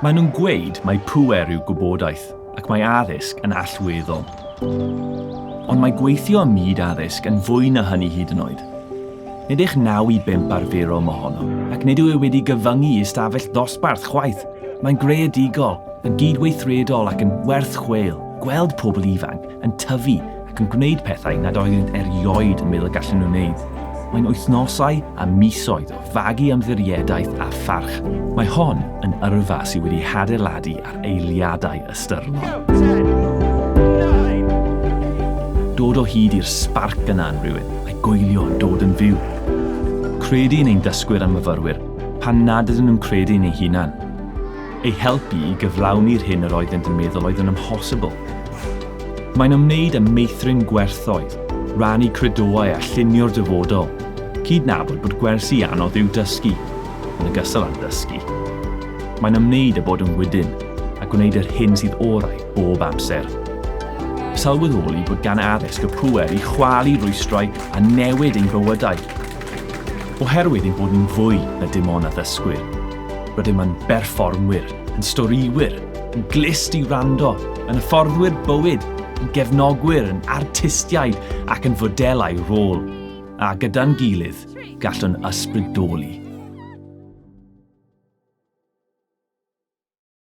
Maen nhw'n gweud mai pŵer yw gwybodaeth ac mae addysg yn allweddol. Ond mae gweithio ym myd addysg yn fwy na hynny hyd yn oed. Nid eich naw i bump arferol mohono, ac nid yw e wedi gyfyngu i ystafell ddosbarth chwaith. Mae'n greadigol, yn gydweithredol ac yn werth chweil. Gweld pobl ifanc yn tyfu ac yn gwneud pethau nad oeddynt erioed yn meddwl y gallen nhw wneud. Mae'n wythnosau a misoedd o fagu ymddiriedaeth a pharch. Mae hon yn yrfa sydd wedi hadeiladu ar eiliadau ystyrlon dod o hyd i'r sbarc yna yn rhywun, a'i goelio yn dod yn fyw. Credu yn ein dysgwyr a myfyrwyr, pan nad ydyn nhw'n credu yn eu hunan. eu helpu i gyflawni'r hyn yr oeddent yn meddwl oedd yn amhosibl. Mae'n ymwneud â meithrin gwerthoedd, rannu credoau a llunio'r dyfodol, cydnabod bod gwersi anodd yw dysgu, yn ogystal â dysgu. Mae'n ymwneud â bod yn wydyn a gwneud yr hyn sydd orau bob amser. Sylweddoli bod gan addysg y pŵer i chwalu rwystrau a newid ein bywydau. Oherwydd ein bod ni'n fwy na dim ond addysgwyr, Rydym yn berfformwyr, yn storïwyr, yn glust i wrando, yn hyfforddwyr bywyd, yn gefnogwyr, yn artistiaid ac yn fodelau rôl, a gyda'n gilydd, gallwn ysbrydoli.